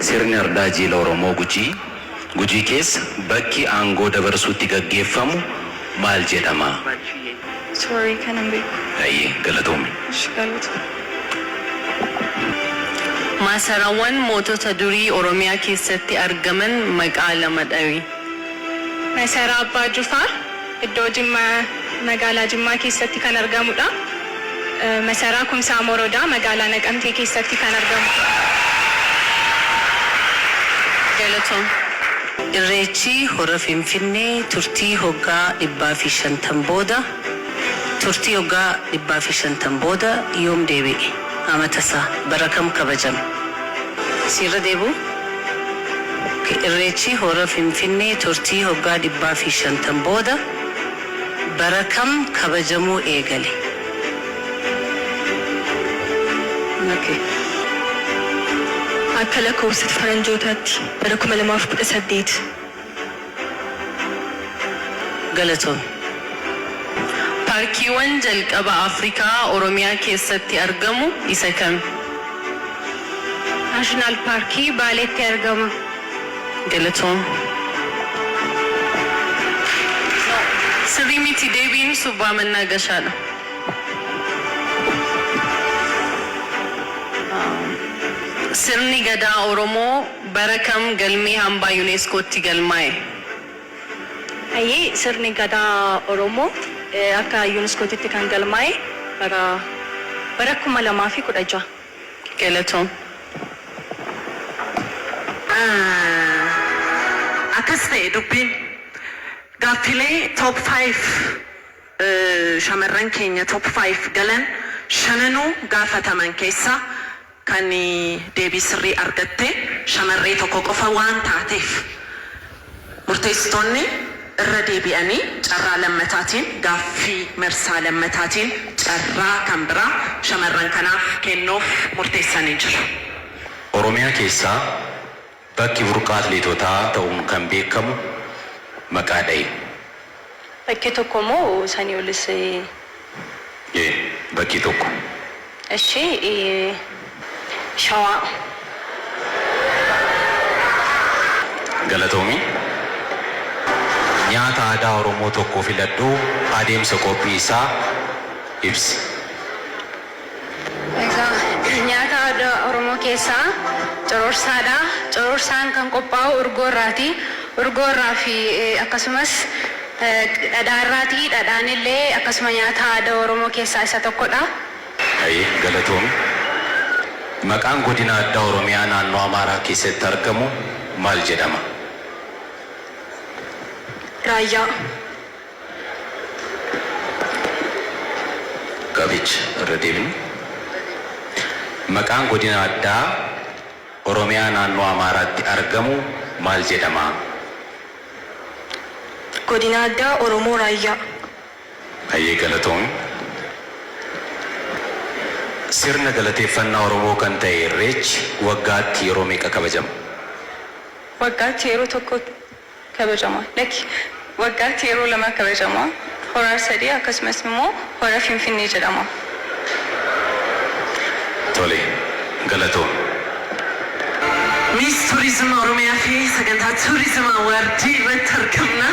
Sirni Ardaa Jiila Oromoo Gujii, Gujii keessa bakki aangoo dabarsuu itti gaggeeffamu maal jedhama? Sorry kana hin beeku. Hayyee galatoomi. Ishi galatoomi. Maasaraawwan mootota durii Oromiyaa keessatti argaman maqaa lama dhawi. Masaraa Abbaa Jufaar. Iddoo Jimma Magaalaa Jimmaa keessatti kan argamudha. Masaraa Kumsaa Morodaa Magaalaa Naqamtee keessatti kan argamudha. Galatoom. Irreechi Hora Finfinnee turtii hoggaa 150 booda Turtii hoggaa 150 booda yoom deebi'e? Amata isaa bara kam kabajama? Si irra deebi'uu? Ok Irreechi Hora Finfinnee turtii hoggaa 150 booda bara kam kabajamuu eegale? Ok Akka lakkoofsa faranjootaatti bara 2018. Galatoomi. Paarkiiwwan jalqaba Afrikaa Oromiyaa keessatti argamu isa kami? National Paarkii Baaleetti argama. Galatoomi. No, sirrii miti deebiin Subbaa Mannaa Gashaa dha. Sirni Gadaa Oromoo. Bara kam galmee hambaa UNESCOtti galmaa'e? Hayyee sirni gadaa Oromoo akka UNESCOtitti kan galmaa'e bara bara 2016. Galatoom. Akkas ta'e dubbiin. Gaaffilee top five shamarran keenya top five galan shananuu gaafataman keessaa Kan deebii sirrii argatte shamarree tokko qofa waan taateef, murteessitoonni irra deebi'anii carraa lammataatiin gaaffii marsaa lammataatiin carraa kan biraa shamarran kanaaf kennuuf murteessanii jiru. Oromiyaa keessaa. Bakki burqaa atleetotaa ta'uun kan beekamu maqaa dhahi. Bakkee tokko moo sanii olis ee. E. Bakkee tokko. Eshi i. Shawaa. Galatoomi. Nyaata aadaa Oromoo tokko filadhuu adeemsa qophii isaa ibsi. Egaa nyaata aadaa Oromoo keessaa cororsaadha. Cororsaan kan qophaa'u urgoo irraati. Urgoo irraa fi akkasumas dhadhaa irraati. Dhadhaan illee akkasuma nyaata aadaa Oromoo keessaa isa tokkodha. Haye galatoomi. Maqaan godina addaa Oromiyaa naannoo Amaaraa keessatti argamu maal jedhama? Raayyaa. Gaaficha irra deebina. Maqaan Godina Addaa Oromiyaa Naannoo Amaaraatti argamu maal jedhama? Godina Addaa Oromoo Raayyaa. Hayyee galatoomi. Sirna galateeffannaa Oromoo kan ta'e Irreechi waggaatti yeroo meeqa kabajama? Waggaatti yeroo tokko kabajama. Lakki. Waggaatti yeroo lama kabajama. Hora Arsadee akkasumas immoo Hora Finfinnee jedhama. Tole. Galatoomi. Miss Tourism Oromiyaa fi Sagantaa Tourism Award irratti argamna.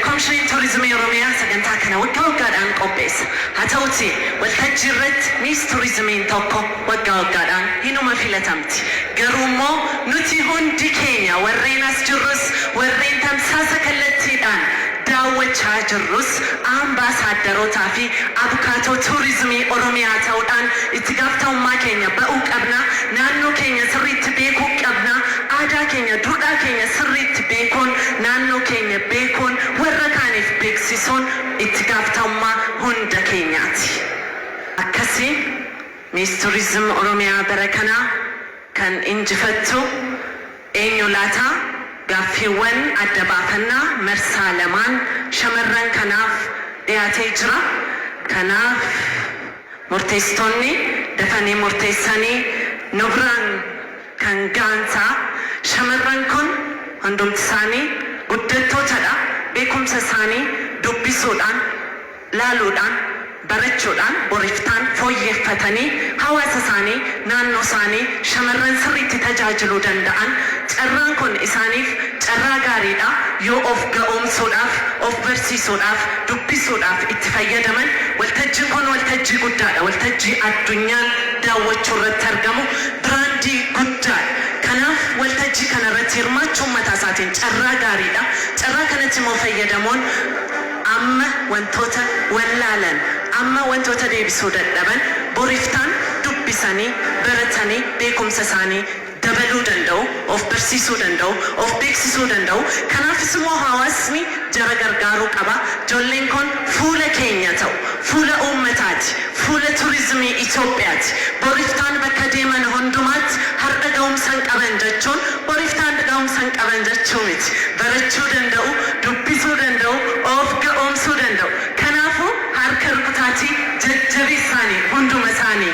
Komishiniin Tuurizimii Oromiyaa sagantaa kana waggaa waggaadhaan qopheessa. Haa ta'uutii waltajjii irratti Miss Tuurizimiin tokko. Waggaa waggaadhaan hinuma filatamti. Garuummoo nuti hundi keenya warreen as jirrus, warreen tamsaasa kallattiidhaan daawwachaa jirrus Ambaasaaddarootaafi Abukaatoo Tuurizimii Oromiyaa ta'uudhaan itti gaaftamummaa keenya ba'uu qabna. Naannoo keenya sirriitti beekuu qabna. Aadaa keenya, duudhaa keenya sirriitti beekuun, naannoo keenya beekuun, warra kaaniif beeksisuun itti gaaftamummaa hunda keenyaati. Akkasiin. Miss Tourism Oromiyaa bara kanaa kan injifattu eenyu laata? Gaaffiiwwan adda baafannaa marsaa lamaan shamarran kanaaf dhiyaatee jira. Kanaaf murteessitoonni dafanii murteessanii nu biraan kan ga'an ta'a. Shamarran kun hundumtisaanii guddattootadha. Beekumsa isaanii dubbisuudhaan. laaluudhaan, barachuudhaan, boriftaan fooyyeeffatanii hawaasa isaanii, naannoo isaanii, shamarran sirriitti tajaajiluu danda'an, carraan kun isaaniif carraa gaarii dha, yoo of ga'oomsuudhaaf, of barsiisuudhaaf, dubbisuudhaaf itti fayyadaman, waltajjiin kun waltajjii guddaa dha, waltajjii addunyaan daawwachuu irratti argamu, biraandii guddaa dha. Kanaaf waltajjii kana irratti hirmaachuun mataa isaatiin carraa gaarii dha. Carraa kanatti immoo fayyadamuun. Amma wantoota wallaalan, amma wantoota deebisuu dadhaban boriftaan dubbisanii, baratanii beekumsa isaanii dabaluu danda'u, of barsiisuu danda'u, of beeksisuu danda'u. Kanaafis immoo hawaasni jara gargaaruu qaba. Jolleen kun fuula keenya ta'u, fuula uummataati. Fuula Turizimii Itoophiyaati. Bor iftaan bakka deeman hundumaatti hardha gahumsan qaban jechuun bor iftaan gahumsan qaban jechuu miti. Barachuu danda'u, dubbisuu danda'u, of ga'oomsuu danda'u. Kanaafuu harka rukutaatii jajjabeessaanii hunduma isaanii.